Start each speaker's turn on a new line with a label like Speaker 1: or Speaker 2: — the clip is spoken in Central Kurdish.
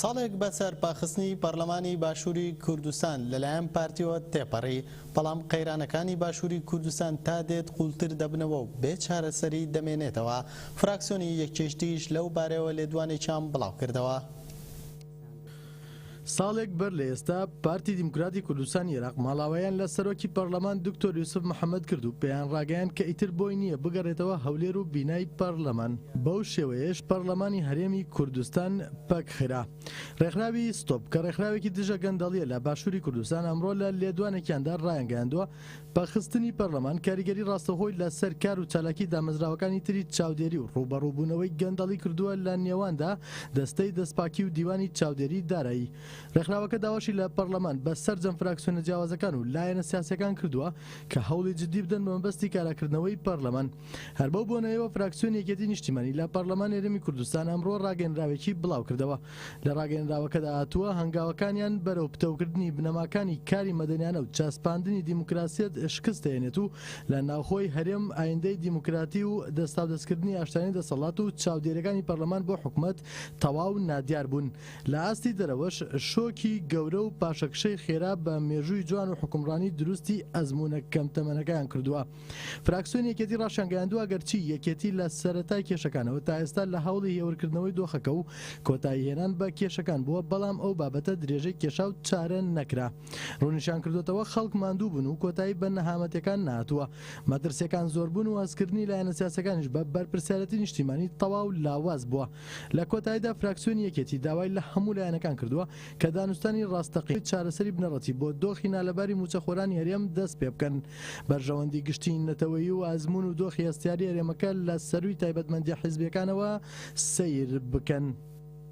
Speaker 1: ساڵێک بەسەر پاخستنی پەڕلەمانی باشوری کوردستان لەلایەن پارتیەوە تێپەڕی، بەڵام قەیرانەکانی باشوری کوردستان تا دێت قووڵتر دەبنەوە و بێ چارەسەری دەمێنێتەوە، فراکسیۆنی یەکێشتیش لەو بارەیەوە لێدوانێکیان بڵاوکردەوە.
Speaker 2: ساڵێک بەر لە ئێستا پارتی دیموکراتی کوردستانی ئێراق ماڵاوایان لە سەرۆکی پەڕلەمان دکتۆر یوسف محەمەد کرد و پێیانڕاگەیاند کە ئیتر بۆی نییە بگەڕێتەوە هەولێر و بینای پەڕلەمان. بەو شێوەیەش پەڕلەمانی هەرێمی کوردستان پەکخرا. ڕێکخراوی ستۆپ، کە ڕێکخراوێکی دژە گەندەڵییە لە باشووری کوردستان ئەمڕۆ لە لێدوانێکیاندا ڕایانگەیاندووە، پەخستنی پەرلەمان کاریگەری ڕاستەوخۆی لە سەر کار و چالاکی دامەزراوەکانی تری چاودێری و ڕووبەڕووبوونەوەی گەندەڵی کردووە لە نێواندا دەستەی دەستپاکی و دیوانی چاودێری دارایی ڕێکخراوەکە داواشی لە پەرلەمان بە سەرجەم فراکسیۆنە جیاوازەکان و لایەنە سیاسیەکان کردووە کە هەوڵی جدی بدەن بە مەبەستی کاراکردنەوەی پەرلەمان. هەر بەو بۆنەیەوە فراکسیۆنی یەکێتی نیشتیمانی لە پەڕلەمانی هەرێمی کوردستان ئەمڕۆ ڕاگەنراوێکی بڵاوکردەوە لە ڕاگەنراوەکەدا هاتووە هەنگاوەکانیان بەرەو پتەوکردنی بنەماکانی کاری مەدەنیانە و چەسپاندنی دیموکراسیەت شکست دەهێنێت و لە ناوخۆی هەرێم ئایندەی دیموکراتی و دەستاودەستکردنی ئاشتیانەی دەسەڵات و چاودێریەکانی پەڕلەمان بۆ حکومەت تەواو نادیار بوون لە ئاستی دەرەوەش شۆکی گەورە و پاشەکشەی خێرا بە مێژووی جوان و حوکمڕانی دروستی ئەزموونە کەم تەمەنەکەیان کردووە. فراکسیۆنی یەکێتی ڕاشیانگەیاندووە، ئەگەرچی یەکێتی لە سەرەتای کێشەکانەوە تا ئێستا لە هەوڵی هێورکردنەوەی دۆخەکە و کۆتاییهێنان بە کێشەکان بووە، بەڵام ئەو بابەتە درێژەی کێشا و چارە نەکرا. ڕوونیشیانکردووەتەوە، خەڵک ماندووبوون و کۆتایی بە نەهامەتیەکان نەهاتووە، مەترسیەکان زۆربوون و هەستکردنی لایەنە سیاسیەکانیش بە بەرپرسیارێتی نیشتیمانی تەواو لاواز بووە. لە کۆتاییدا فراکسیۆنی یەکێتی داوای لە هەموو لایەنەکان کردووە، کە دانوستانی ڕاستەقینەی چارەسەری بنەڕەتی بۆ دۆخی نالەباری مووچەخۆرانی هەرێم دەست پێ بکەن. بەرژەوەندی گشتیی نەتەوەیی و ئەزموون و دۆخی هەستیاری هەرێمەکە لە سەرووی تایبەتمەندییە حیزبییەکانەوە سەیر بکەن.